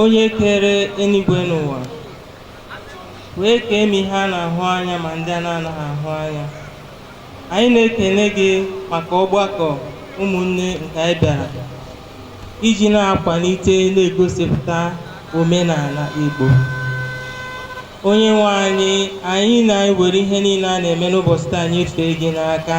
onye kere eluigwe na ụwa wee kee ma ihe a na-ahụ anya ma ndị a na-anaghị ahụ anya anyị na-ekele gị maka ọgbakọ ụmụnne nke anyị bịara iji na-akwalite na-egosipụta omenala Igbo onye nwe anyị anyị na-ewere ihe niile a na-eme n'ụbọchị taa nyefee gị n'aka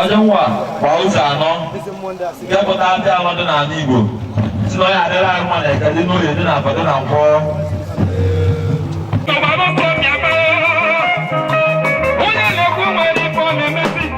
onye nwa kwa ụzọ anọ nke pụta ndị anọ dị n'ala Igbo si na onye adịrị ahụ ma na eke dị n'oye dị na afọ dị na nkwọ Onye na-ekwu nwere ife ọ na-emezi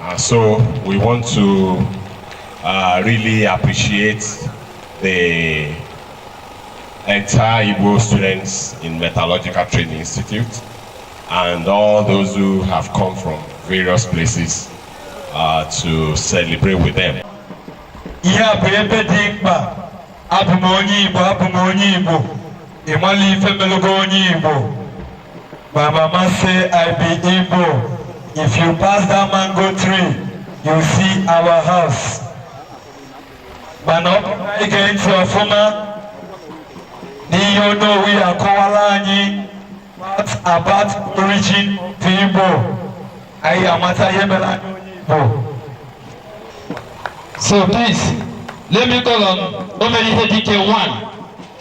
And so we want to uh, really appreciate the entire Igbo students in Metallurgical Training Institute and all those who have come from various places uh, to celebrate with them. ihe a bụ ebe dị mkpa abụ m onye igbo abụ m onye igbo ị mala ife melu gị onye igbo My mama say I be Igbo. If you pass that mango tree, you see our house. Mana ọ bụrụ na ị gee ntị ọfụma n'ihe Onowu ga-akọwara anyị what about origin of Igbo. Anyị amata ihe mere anyị onye Igbo. So please, let me call on Omeri Hedike one.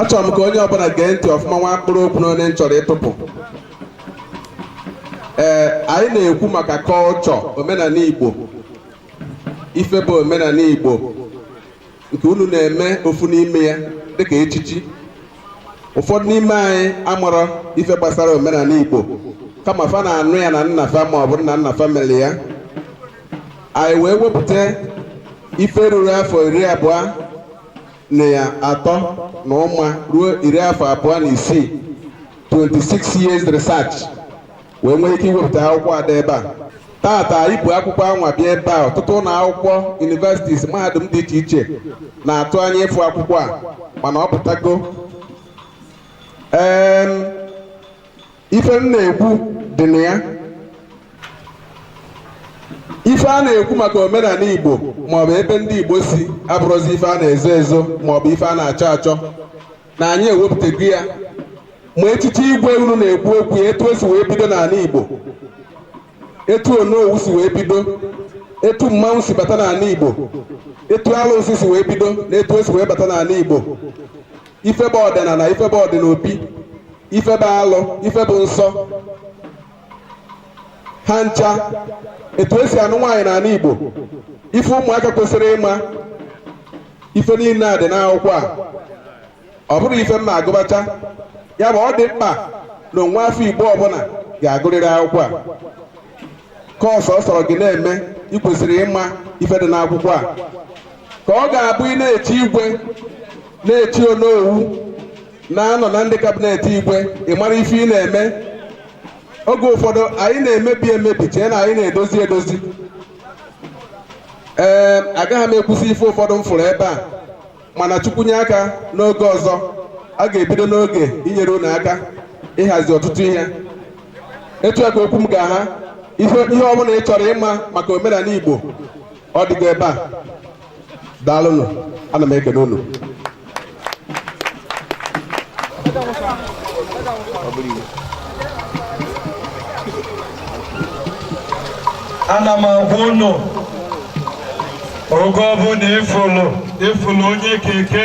achọrọ m ka onye ọbụla gee ntị ọfụma nwa mkpụrụ okwu na ole m chọrọ ịtụpụ ee anyị na-ekwu maka culture omenala igbo ife bụ omenala igbo nke unu na-eme ofu n'ime ya dịka echichi ụfọdụ n'ime anyị amụrọ ife gbasara omenala igbo kama fa na-anụ ya na nna fa ma ọ bụ nna nna fa mere ya anyị wee wepụta ife ruru afọ iri abụọ na atọ na ụma ruo iri afọ abụọ na isii 26 years research wee nwee ike iwepụta akwụkwọ a dị ebe a tata anyị bu akwụkwọ anwa bịa ebe a ọtụtụ ụlọ akwụkwọ universities mahadum dị iche iche na-atụ anya ịfụ akwụkwọ a mana ọ pụtago Em, ife m na-ekwu dị na ya ife a na-ekwu maka omenala igbo maọbụ ebe ndị igbo si abụrọzi ife a na-ezo ezo maọbụ ife a na-achọ achọ na anyị ewepụtago ya ma echichi igwe unu na-ekwu okwu ya etu o si wee bido n'ala igbo etu onowu si wee bido etu mmanwụ si bata n'ala igbo etu alụsị si wee bido na etu o si wee bata n'ala igbo ife bụ ọdịnana ife bụ ọdịnobi ife bụ alụ ife bụ nsọ ha ncha etu esi anụ nwaanyị n'ana Igbo ife ụmụaka kwesịrị ịma ife niine a dị n'akwụkwọ a ọ bụrụ ife m na-agụbacha ya bụ ọ dị mkpa na nwa afọ Igbo ọbụna ga-agụrịrị akwụkwọ a ka ọsọ ọ sọrọ gị na-eme ị kwesịrị ịma ife dị n'akwụkwọ a ka ọ ga-abụ ị na-echi igwe na-echi onowu na-anọ na ndị kabinet igwe ị mara ife ị na-eme oge ụfọdụ anyị na-emebi emebi chee na anyị na-edozi edozi ee agaghị m ekwusị ife ụfọdụ m fụrụ ebe a mana chukwu nye aka n'oge ọzọ a ga-ebido n'oge inyere unu aka ịhazi ọtụtụ ihe etu a ka okwu m ga-aha ihe ihe ọ bụna ị chọrọ ịma maka omenana igbo ọ dịgo ebe a daalụnụ ana m ekele unu ana m agwa unu oge ọbụna ị fụlụ ị fụlụ onye keke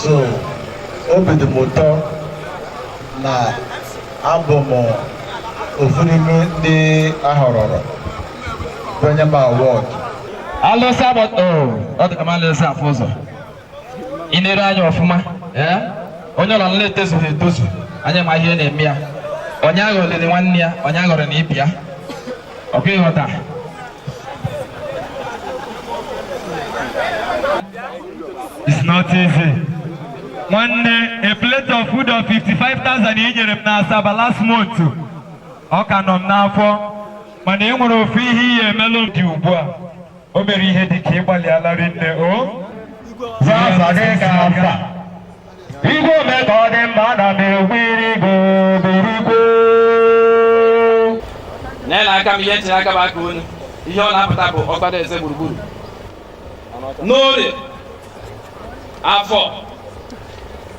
so obi dị m ụtọ na abụ m ofu n'ime ndị a họrọrọ e nye m award alụsa ọ dị ka m alụsa afụ ụzọ ị nere anya ọfụma onye ọla nla etozughị etozu anya ma ihe na-eme ya onye aghọliri nwanne ya onye aghọrọ na ibi ya ọkụ ịghọta It's not easy. nwanne a plate of food of 55,000 i nyere m n'Asaba last month ọ ka nọ m n'afọ mana e nwere ofu ihe ị ya-emelụ m dị ugbu a o mere ihe dị ka ị gbalịala rinne o Zaza gị ga-aza. Igwe ome ka ọ dị mma ana m egwu iri go birigwe. Lee na aka m ihe m tinye aka bụ aka unu ihe ọ na-apụta bụ ọkpara eze gburugburu n'orie afọ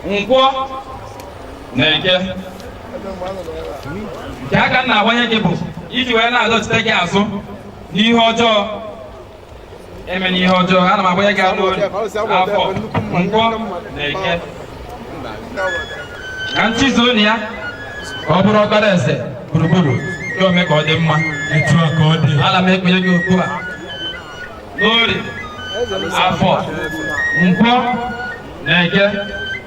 nkwọ na eke nke a ka m na-agwanye gị bụ iji wee na-adọchite gị azụ n'ihe ọjọọ emena ihe ọjọọ ana m agwanye gị ya n'ori afọ nkwọ na eke ka ntị zoo na ya ọ bụrụ ọkpara eze gburugburu ya ome ka ọ dị mma etu a ka ọ dị ana m ekpenye gị okwu a n'ori afọ nkwọ na eke